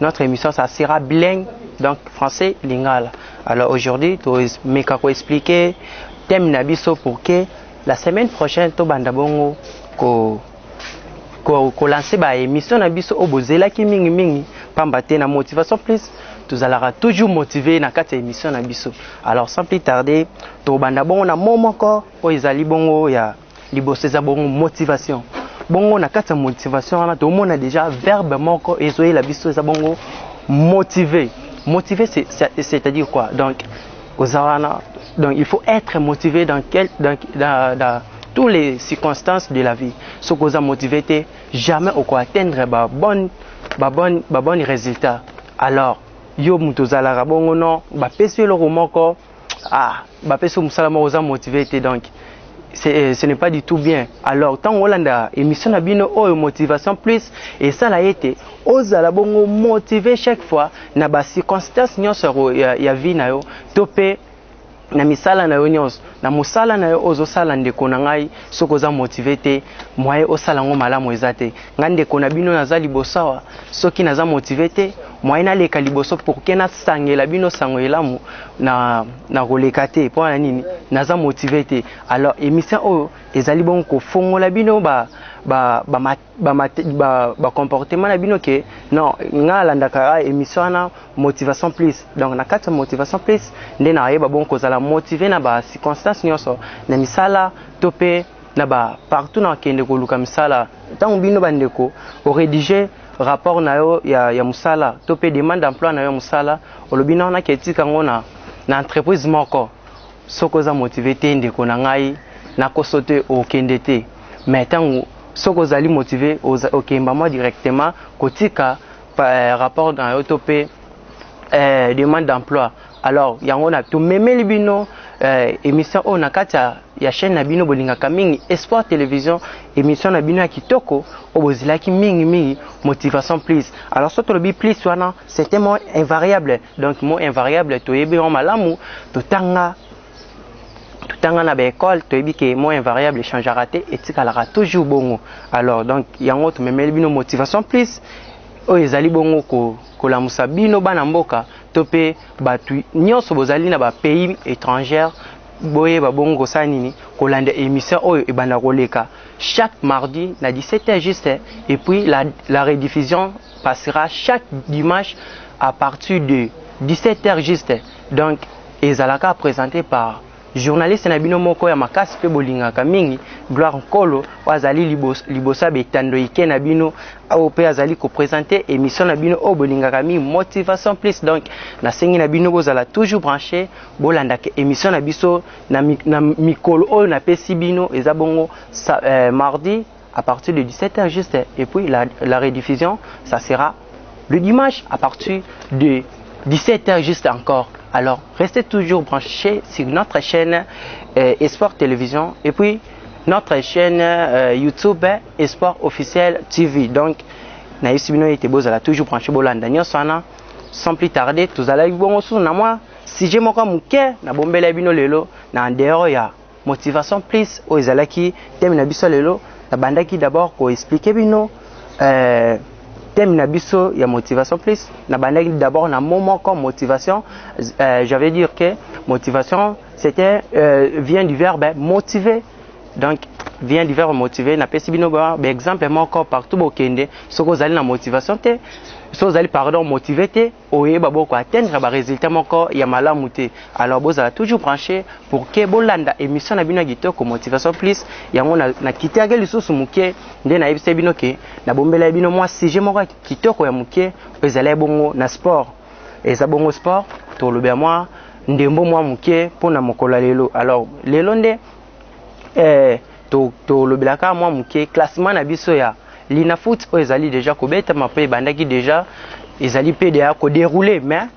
notre émission ça sera bilingue donc français lingala alors aujourd'hui tomeka koexplike thème na biso pour que la semaine prochaine tobanda bongo ko kolanse baémission na biso oyo bozelaki mingimingi mpamba te na motivation plus tozalaka toujours motive na kati ya émission na biso alors sans plus tarder tobanda bongo na mo moko oyo ezali bongo ya liboso eza bongo motivation bongo na kati ya motivation wana tomona déjà verbe moko ezoyela biso eza bongo motiver motiver c'est-à-dire quoi donc oza wana donc il faut être motivé dans, quel, dans, dans, dans toutes les circonstances de la vie soki oza motivé te jamais okoatteindre babonne babonne babonne résultat alors yo moto ozalaka bongo no bapesi yo eloko moko ah bapesi yo mosala moko oza motive te donc euh, ce n'est pas du tout bien alors ntango olanda émission na bino oyo motivation plus esala ete ozala bongo motive chaque fois na bacirconstance nyonso ya, ya vie na yo to mpe na misala na yo nyonso na mosala na yo ozosala ndeko na ngai soki oza motive te moye osala yango malamu eza te ngai ndeko na bino naza liboso awa Soki naza motive te, moyen naleka liboso pour que nasangela bino sango elamu na nakoleka te mpo na nini naza motive te. Alors emission oyo ezali bongo kofongola bino ba ba ba, ba, ba, ba, ba, ba comportement na bino ke non nga alandaka emission wana motivation plus donc na kati ya motivation plus nde nayeba bongo kozala motive na ba circonstances nyonso na misala to mpe na ba partout na kende koluka misala ntango bino bandeko oredige rapport na yo ya, ya mosala to mpe demande d'emploi na yo ya mosala olobi nao nake etika yango na, na entreprise moko soki oza motive te ndeko na ngai nakoso te okende te mais ntango soki ozali motive okemba mwa directement kotika eh, rapport na yo to mpe eh, demande d'emploi Alors yango na to memeli bino euh, émission oyo na kati ya chaîne na bino bolingaka mingi Espoir Television émission na bino ya kitoko oyo bozilaki mingi mingi motivation plus. Alors soki tolobi plus wana c'est un mot invariable. Donc mot invariable toyebi yango malamu totanga tanga na baekole toyebi ke mo invariable echangera te etikalaka toujours bongo alors donc yango tomemeli bino motivation plus oyo ezali bongo ko kolamusa bino bana mboka to mpe bato nyonso bozali na ba pays étrangère boyeba bongo kosala nini kolanda émission oyo ebanda koleka chaque mardi na 17 heures juste et puis la, la rediffusion passera chaque dimanche à partir de 17 heures juste donc ezalaka présenté par Journaliste na bino moko ya makasi pe bolingaka mingi Gloire Nkolo oyo azali liboso, liboso ya betando ike na bino oyo pe azali ko presenter emission na bino oyo bolingaka mingi Motivation Plus donc nasengi na bino bozala toujours branche bolandaka emission na biso na, na mikolo oyo napesi bino eza bongo sa, eh, mardi à partir de 17 heures juste et puis la, la rediffusion ça sera le dimanche à partir de 17 heures juste encore alors restez toujours branchés sur notre chaîne euh, Espoir Télévision et puis notre chaîne euh, YouTube Espoir Officiel TV donc nayebisi bino ete bozala toujours branché bolanda nyonso wana sans plus tarder tozalaki bongo susu na mwa sujet moko ya moke nabombela bino lelo na en dehors ya motivation plus oyo ezalaki thème na biso lelo nabandaki d'abord ko expliquer bino euh, thème na biso ya motivation plus nabandaki d'abord na mot moko motivation euh, j'avais dire que motivation c'était euh, vient du verbe motiver donc vient du verbe motiver napesi bino ba exemple moko partout bokende soki ozali na motivation te soki ozali pardon motive te oyeba boko atteindre ba resultats moko ya malamu te alors bozala toujours branche pour que bolanda emission na bino ya kitoko motivation plus yango na, na kitiaki lisusu moke nde nayebisaki bino ke nabombelaki bino mwa sujet moko ya kitoko ya moke ezalaki bongo na sport eza bongo sport tolobela mwa ndembo mwa moke mpo na mokolo ya lelo alors lelo nde eh, tolobela to kaka mwa moke classement na biso ya linafoot oyo ezali deja kobetama mpe ebandaki deja ezali mpe deya koderoule mais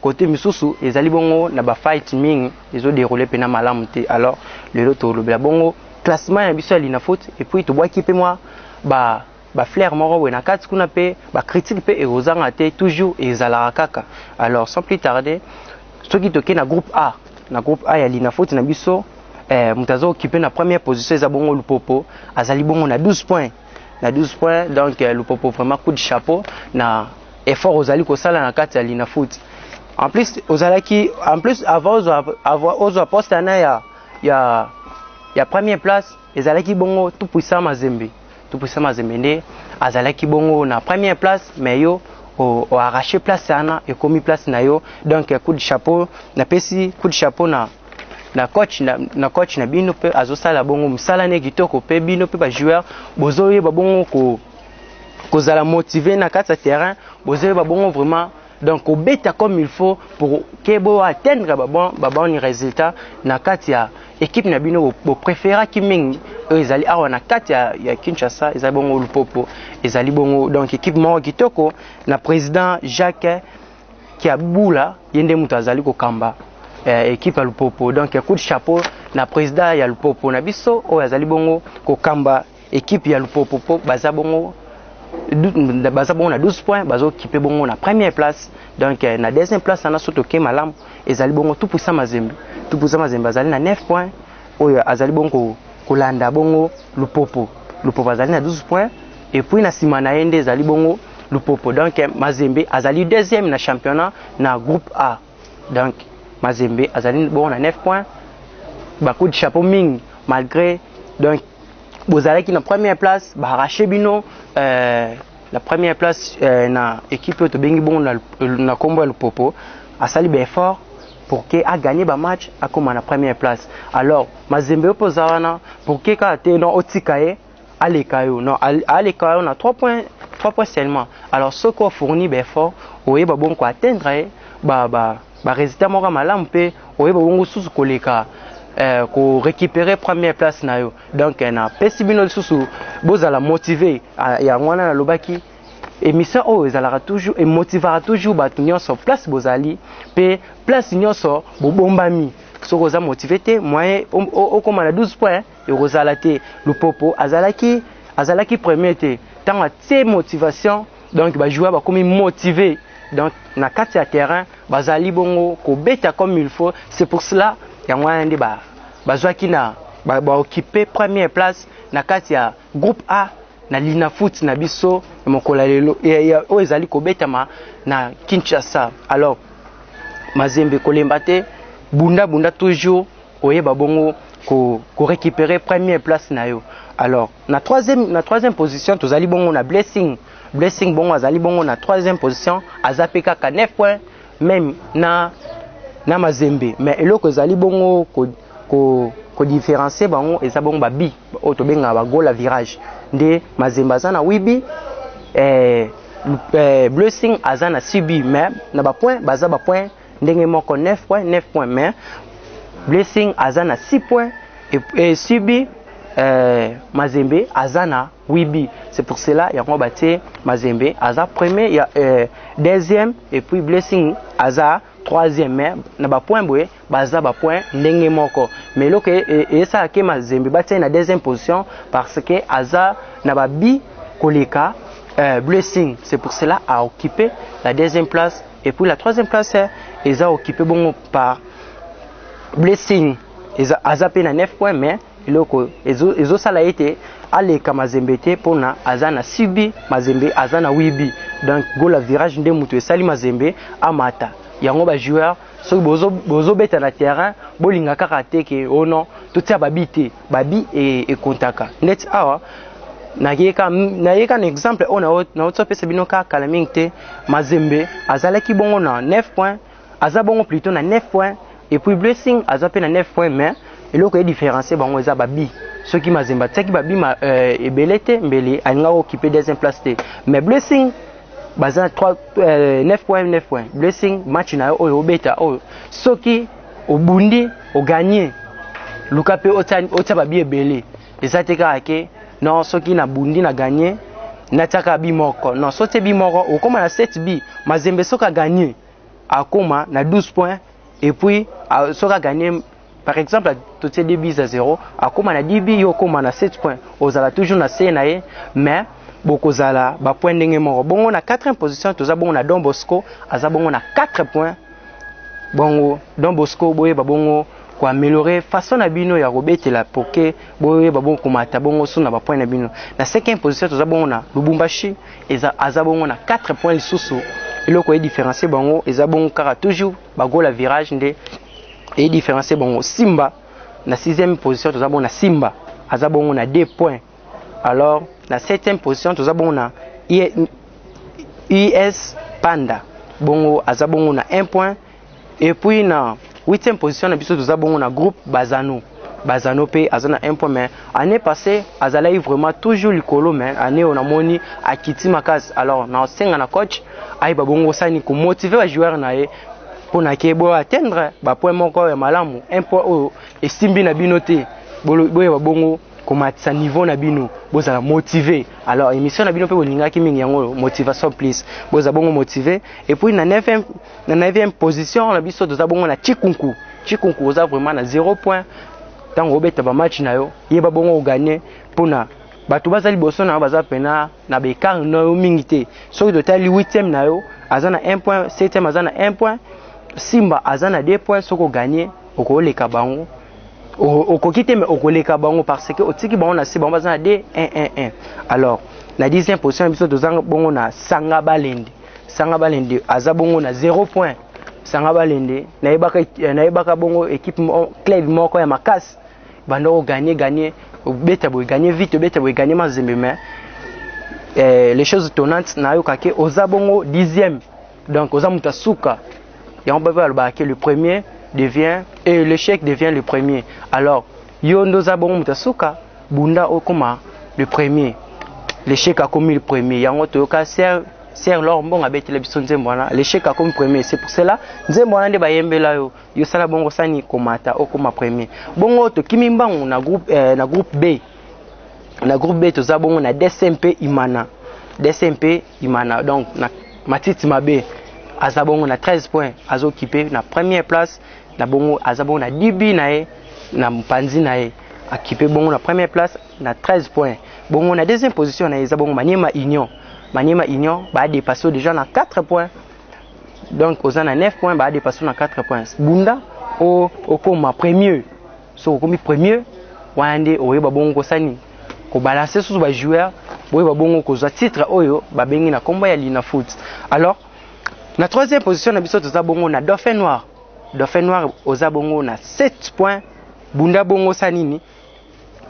kote misusu ezali bongo na bafight mingi ezoderoule mpe na malamu te alors lelo tolobela bongo classement ya biso ya linafoot epuis tobwaki mpe mwa ba ba fleurs moko boye na kati kuna pe ba critiques pe ekozanga te toujours ezalaka kaka alors sans plus tarder soki toke na groupe A na groupe A ya Lina faute na biso eh, moto aza okipe na première position eza bongo Lupopo azali bongo na 12 points na 12 points donc eh, Lupopo vraiment coup de chapeau na effort ozali kosala na kati ya Lina faute en plus ozalaki en plus avant ozwa avant ozwa poste na ya ya ya première place ezalaki bongo tout puissant Mazembe topesa mazembe nde azalaki bongo na première place mais yo oarrache place wana ekomi place na yo donc coup de chapeau napesi coup de chapeau na na coach na, na coach na bino mpe azosala bongo mosala ne kitoko mpe bino mpe bajoueur bozoyeba bongo ko, kozala motive na kati ya terrain bozoyeba bongo vraiment Donc kobeta comme il faut pour que bo atteindre ba bon ba bon résultat na kati ya équipe na bino bo préféra ki mingi ezali awa na kati ya, ya Kinshasa ezali bongo Lupopo ezali bongo donc équipe moko kitoko na président Jacques Kiabula yende mutu azali kokamba eh, équipe ya Lupopo donc coup de chapeau na président ya Lupopo na biso oyo azali bongo kokamba Equipe ya Lupopopo baza bongo baza bongo na 12 points bazokipe bongo na première place donc euh, na deuxième place wana soki toke malamu ezali bongo tupusa mazembe tupusa mazembe azali na 9 points oyo azali bongo kolanda bongo lupopo lupopo azali na 12 points epuis na nsima na ye nde ezali bongo lupopo donc euh, mazembe azali deuxième na championnat na groupe a Donc Mazembe azali bongo na 9 points. Ba coups de chapeau mingi malgré donc bozalaki na première place ba arraché bino euh, la première place euh, na équipe oyo tobengi bongo na, na kombo ya Lupopo asali ba effort pour que a gagner ba match akoma na première place. Alors Mazembe opo za wana pour que kaka te non otika ye aleka yo non aleka yo na 3 points 3 points seulement alors soki ofourni baeffort oyeba bongo koatteindre ye ba, ba, ba résultat moko ya malamu mpe oyeba bongo susu koleka eh, ko récupérer première place na yo donc eh, napesi bino lisusu bozala motive ah, yango wana nalobaki émission oyo ezalaka toujours emotivaka toujours bato nyonso place bozali mpe place nyonso bobombami soki oza motive te moyen okoma na 12 point ekozala te lupopo azalaki azalaki premier te ntango atie motivation donc bajoueur bakomi motive donc na kati ya terrain bazali bongo kobeta comme il faut c'est pour cela yango wana nde bazwaki na baokipe première place na kati ya groupe a na linafoot na biso ya mokolo ya lelo oyo ezali kobetama na kinshasa alors mazembe kolemba te bunda bunda toujours oyeba bongo ko, ko récupérer première place na yo alors na troisième, na troisième position tozali bongo na blessing blessing bongo azali bongo na troisième position aza mpe kaka 9 points même na, na mazembe mais eloko ezali bongo ko, ko, ko différencier bango eza bongo babi oyo tobengaka bagola virage nde mazembe aza na 8 bi eh, eh, blessing aza na 6 bi mais na bapoint baza bapoint ndenge moko 9 points 9 points mais blessing aza na 6 points et, et subi euh, mazembe aza na 8 buts c'est pour cela yango batie mazembe aza premier ya euh, deuxième et puis blessing aza troisième mais na bapoint boye baza bapoint ndenge moko mais eloko e, e, eyesaka ke mazembe batie na deuxième position parce que aza na babi koleka euh, blessing c'est pour cela a occupé la deuxième place Et puis la troisième place eza occupé bongo par blessing eza aza pe na 9 points mais eloko ezo ezo sala ete aleka mazembe te pona aza na sibi mazembe aza na wibi donc gola virage nde mutu esali mazembe amata yango ba joueur soki bozo bozo beta na terrain bolinga kaka te ke oh non totia ba bi te babi ekontaka ndeti awa nayeka nayeka na exemple oyo naotia pesa bino kaka kala mingi te mazembe azalaki bongo na 9 point aza bongo plutôt na 9 point epuis blessing aza mpe na 9 point mais eloko ya différencie bango eza babi soki mazembe atiaki babi ma, euh, ebele te mbele alingaki okipe deuxième place te mais blessing baza 3 euh, 9 point 9 point blessing match na yo oyo obeta oyo soki obundi oganye luka mpe otya babi ebele eza te kaka ke non soki nabundi na ganye natyaka bi moko non so tye bi moko okóma na 7 bi mazembe soki aganye akóma na 12 point epuis soki aganye par exemple totye 2 bis a 0 akóma na 10 bi yo okóma na 7 point ozala toujours na se na ye mais bokozala bapoint ndenge moko bongo na 4e position toza bongo na don bosco aza bongo na 4 point bongo don bosco boyeba bongo koameliore façon na bino ya kobetela poke boyeba bongo komata bongo su na bapoint na bino na cinquième position toza bongo na lubumbashi eza aza bongo na 4 point lisusu eloko edifférencie bango eza bongo kaka toujours bagola virage nde edifférencie bango simba na sixième position toza bongo na simba aza bongo na 2 point alors na 7e position toza bongo na US Panda bongo aza bongo na 1 point et puis na 8e position na biso toza bongo na groupe Bazano Bazano pe aza na 1 point mais année passée azalaki vraiment toujours likolo mais année on a moni akiti makasi alors na senga na coach ayeba bongo sani ko motiver ba joueurs na ye pona ke bo atteindre ba point moko ya malamu un point oyo esimbi na bino te boyeba bongo komatisa niveau na bino bozala motive alors émission na bino mpe bolingaki mingi yango motivation plus boza bongo motive et puis na 9e na 9e position na biso toza bongo na chikunku chikunku oza vraiment na 0 point ntango obeta bamatch na yo yeba bongo oganye mpo na bato baza liboso na yo baza mpena na baekart na yo mingi te soki totali 8e na yo aza na 1 point 7e aza na 1 point simba aza na 2 point soki oganye okoleka bango okoki te mais okoleka bango parce que otiki bango na se bango baza na de 111 alors na 10 position na biso toza bongo na sanga balende sanga balende aza bongo na 0 point sanga balende nayebaka eh, nayebaka bongo equipe club moko ya makasi banda oganye ganye obeta boye ganye vite obeta boye ganye mazembe mais eh, les choses tonnantes nayokaki oza bongo dixième Donc oza mutu suka. Yango baba alobaka que le premier devient et l'échec devient le premier. Alors yo ndo za bongo mutu suka bunda okoma le premier. L'échec akomi le premier. Yango toyoka sœur sœur Laure Mbongo abetela biso nzembo wana l'échec akomi premier. C'est pour cela nzembo wana nde bayembela yo. Yo sala bongo sani komata okoma premier. Bongo tokimi mbangu na groupe eh, na groupe B. Na groupe B toza bongo na DSMP Imana. DSMP Imana donc na matiti mabe aza bongo na 13 points azokipe na première place na bongo aza bongo na dibi na ye na mpanzi na ye akipe bongo na première place na 13 points bongo na deuxième position na ye eza bongo maniema union maniema union baadepase yo déjà na 4 points donc oza na 9 points baadepase yo na 4 points bunda okoma premier soki okomi premier wana nde oyeba bongo kosani kobalanse susu bajoueur boyeba bongo kozwa titre oyo babengi na nkombo ya lina foot alors na troisième position na biso toza bongo na dauphin noir dauphin noir oza bongo na 7 point bunda bongo sa nini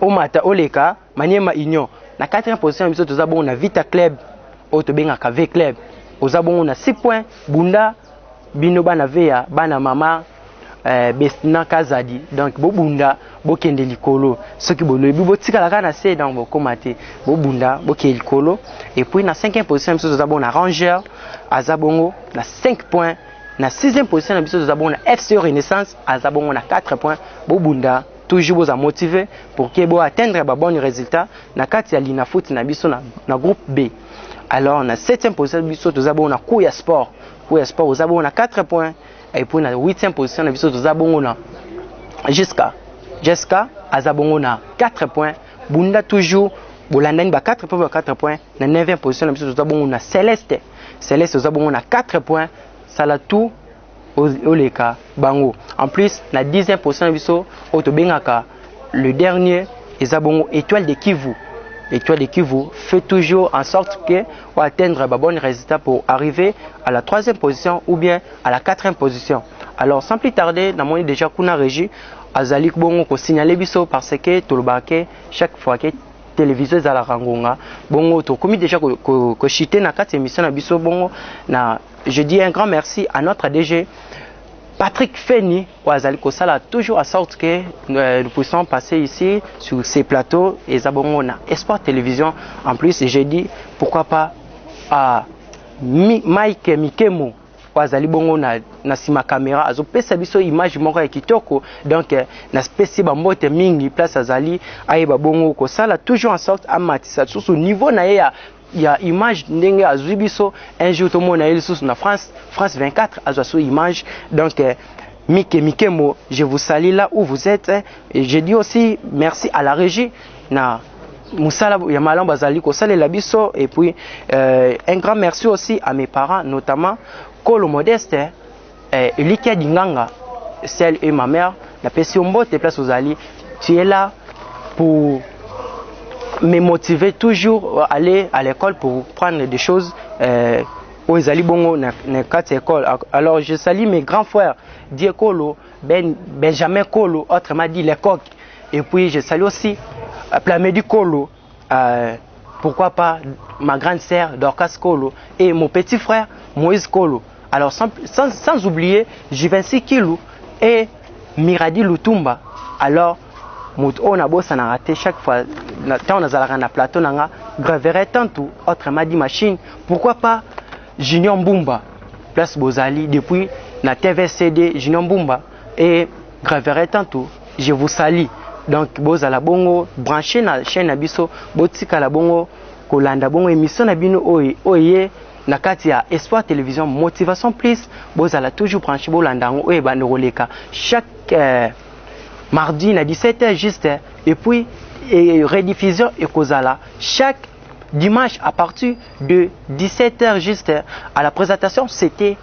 omata oleka Maniema Union na 4e position biso toza bongo na Vita Club oyo tobengaka V Club oza bongo na 6 points bunda bino bana veya bana mama eh, Bestina Kazadi donc bobunda bokende likolo soki bolobi botikala kaka na se donc bokoma te bobunda bokende likolo et puis na 5e position biso toza bongo na Ranger aza bongo na 5 points na 6e position na biso toza bongo na FC Renaissance aza bongo na 4 points bobunda toujours boza motive pour que bo atteindre ba bonne résultat na kati ya linafoot na biso na, na groupe B alors na 7e position biso toza bongo na cours ya sport cours ya sport oza bongo na 4 points et puis na 8e position na biso toza bongo na jusqu'à Jessica aza bongo na 4 points bunda toujours bolandani ba 4 points ba 4 points na 9e position na biso toza bongo na Celeste Celeste oza bongo na 4 points sala tout oleka bango en plus na 10 position na biso oyo tobengaka le dernier eza bongo étoile de kivu étoile de kivu fait toujours en sorte que oatteindre ba bonne résultat pour arriver à la troisième position ou bien à la quatrième position alors sans plus tarder namoni déjà kuna régie azali bongo kosignale biso parce que tolobaka ke chaque fois ke télévision ezalaka ngonga bongo tokomi déjà kochite na kati ya émission na biso bongo na Je dis un grand merci à notre ADG Patrick Feni oyo azali kosala toujours à sorte que euh, nous puissions passer ici sur ces plateaux et Zabongo na Espoir Télévision. En plus, j'ai dit pourquoi pas à Mi, Mike Mikemo oyo azali bongo na, na nsima kamera azopesa biso image moko ya kitoko donc euh, napesi bambote mingi place azali ayeba bongo kosala toujours en sorte amatisa lisusu niveau na ye ya ya image ndenge azui biso un jour tomona ye lisusu na France France 24 azwa so image donc euh, Mike Mikemo je vous salue là où vous êtes et je dis aussi merci à la régie na musala ya malamu bazali kosalela biso et puis euh, un grand merci aussi à mes parents notamment Kolo Modeste Eh, Elikia Dinganga, celle et ma mère, la pesi mbote place ozali, tu es là pour me motiver toujours à aller à l'école pour prendre des choses euh, oyo ezali bongo na, na kati ya école. Alors je salue mes grands frères Die Kolo, ben, Benjamin Kolo, autrement dit les coqs. Et puis je salue aussi euh, Plamedi Kolo, Euh, pourquoi pas ma grande sœur Dorcas Kolo et mon petit frère Moïse Kolo. Alors sans, sans, sans oublier Juvency Kilou et Miradi Lutumba. Alors moto oyo nabosanaka te chaque fois ntango nazalaka na plateau na nga gravere tantu autrement dit machine pourquoi pas junior mbumba place bozali depuis na tvcd junior mbumba et Gravere tantu je vous salis donc bozala bongo branche na chaîne na biso botikala bongo kolanda bongo émission na bino oyo oye na kati ya Espoir Télévision Motivation Plus bozala toujours branche bolanda yango oyo ebanda koleka chaque euh, mardi na 17h juste et puis et rediffusion ekozala chaque dimanche à partir de 17h juste à la présentation c'était